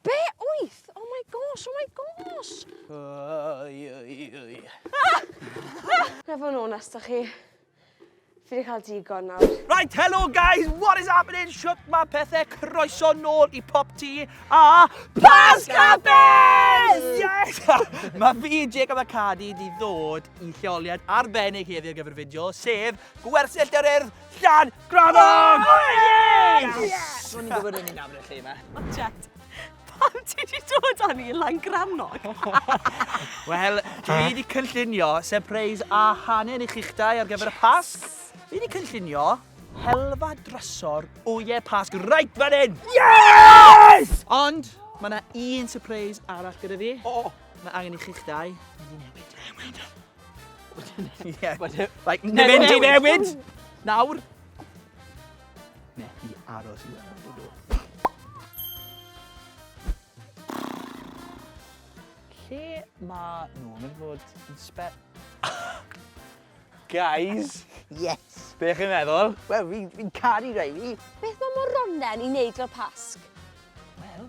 Be wyth? Oh my gosh, oh my gosh! Oi, oi, oi. Na fo'n onest da chi. Fi wedi cael digon nawr. Right, hello guys, what is happening? Shut my pethau, croeso nôl i Pop Tea a Pasca Bears! Yes! mae fi, Jacob a Cadi, di ddod i lleoliad arbennig heddiw ar gyfer y fideo, sef Gwersyll yr Urdd Llad Gramog! Oh, yes! yes! Rwy'n i'n gwybod yn i'n nabod y lle yma. O, jet. Pam ti wedi dod â ni lan Gramog? Wel, dwi wedi cynllunio surprise a hangen i chi'ch dau ar gyfer y Pasg. Dwi wedi cynllunio helfa drysor wyau Pasg right fan hyn! Yes! Ond, mae yna un surprise arall gyda fi. O! Mae angen i chi'ch dau. Mae'n newid. Mae'n newid. Ie. Like, na mynd i newid! Nawr! Ne, i aros i weld nhw. Lle mae nhw? Mae'n fod yn spe... Guys! Yes! Be chi'n meddwl? Wel, fi'n fi caru rei fi. Beth mae moronen i wneud o'r pasg? Wel,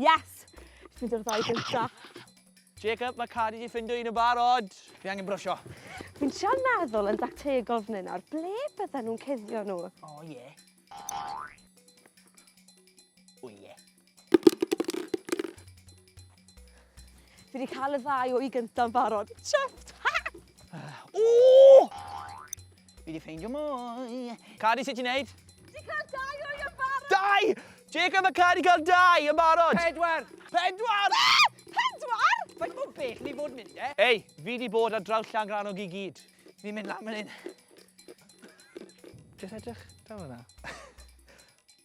Yes! Jyst mynd i'r ddau gynta. Jacob, mae Cadi di ffindo un yn barod. Fi angen brwsio. Fi'n trio meddwl yn dactegol fan hyn nawr, ble bydden nhw'n cuddio nhw? O oh, ie. Yeah. O ie. Fi wedi cael y ddau o'i gynta'n barod. Chuffed! O! Fi di ffeindio mwy. Cadi, sut ti'n neud? Di cael dau o'i yn barod! Dau! Jacob a Cadi cael dau yn barod! Pedwar! Pedwar! Be? Pedwar? Faint mor bell ni fod mynd e? Ei, fi di bod ar draw Llangrannog i gyd. Fi'n mynd lan fan hyn. Jyst edrych draw yna.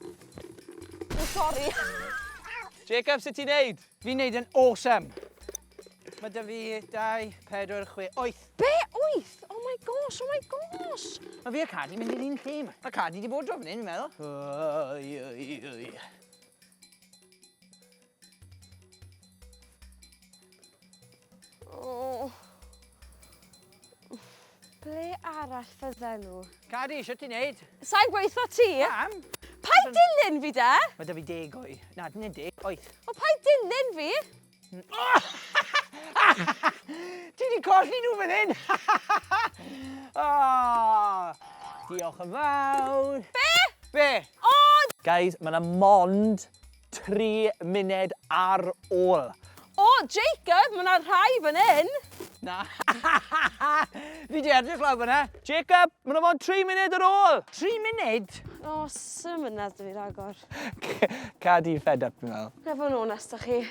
O, sori! Jacob, sut ti'n neud? Fi'n neud yn awesome. Mae dy fi 2, 4, 6, 8. Be? 8? Oh my gosh, oh my gosh! Mae fi a Cadi mynd i'r un lle yma. Mae Cadi di bod dro fan hyn, fi'n meddwl. Oi, oi, oi. Oh. Ble arall fydden nhw? Cari, eisiau ti'n neud? Sa'n gweithio ti? Pam? Pa'i dilyn fi de? Mae da fi deg o'i. Na, dyna deg, oeth. O, pa'i dilyn fi? Ti di colli nhw fan hyn! oh, diolch yn fawr. Be? Be? O! Guys, mae yna mond Tri munud ar ôl. O, Jacob, mae 'na rhai fan hyn! Na. Fi 'di edrych lawr fan'na. Jacob, mae 'na mond tri munud ar ôl! Tri munud? O, sut mae 'na dwi ragor. Ca di fed up, fi'n meddwl. Na, fod yn onest 'da chi.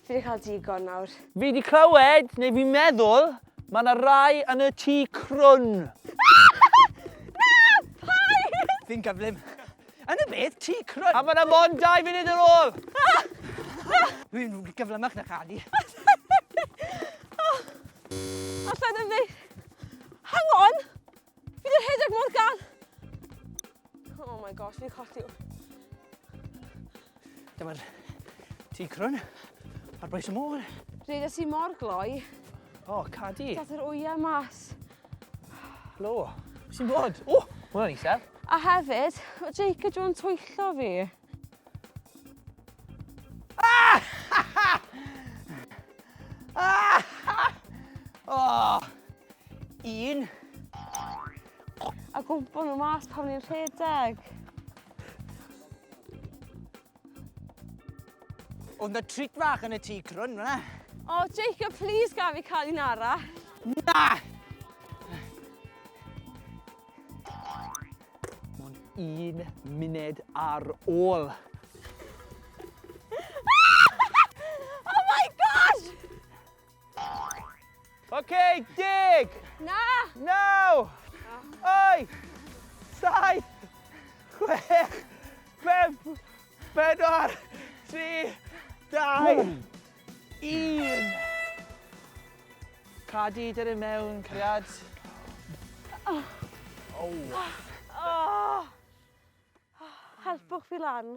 Fi 'di cael digon nawr. Fi 'di clywed, neu fi'n meddwl, mae 'na rai yn y tŷ crwn. Na! Paid! Fi'n gyflym. Yn y beth, ti crwn. A mae'n amon dau funud ar ôl. Rwy'n gyflymach na chadi. Alla ddim dweud. Hang on! Fi wedi rhedeg mor gan. Oh my gosh, fi'n colli. Dyma'r tŷ crwn ar bwys y môr. Rhedais i mor gloi. O, oh, cadi. Dath yr wyau mas. Lo, sy'n bod? O, oh, hwnna'n isel. A hefyd, o Jake a John twyllo fi. Ah! ah! Oh! Un. A gwmpo nhw mas pan ni'n rhedeg. Oedd na treat fach yn y tŷ crwn fyna. O, oh, Jacob, please gaf i cael un ara. Na! Mae'n un munud ar ôl. oh my gosh! OK, deg! Na! Naw! Wyth! Saith! Chwech! Pump! Pedwar! Tri! Dau! Un! Cadi, dyn ni mewn, cariad. Oh. Oh. Helpwch fi lan.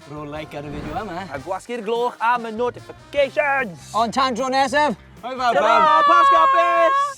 Rho like ar y fideo yma. A gwasgu'r gloch am y notifications! Ond tan dro nesaf! Hwyl fawr! Tara, Pasg Hapus!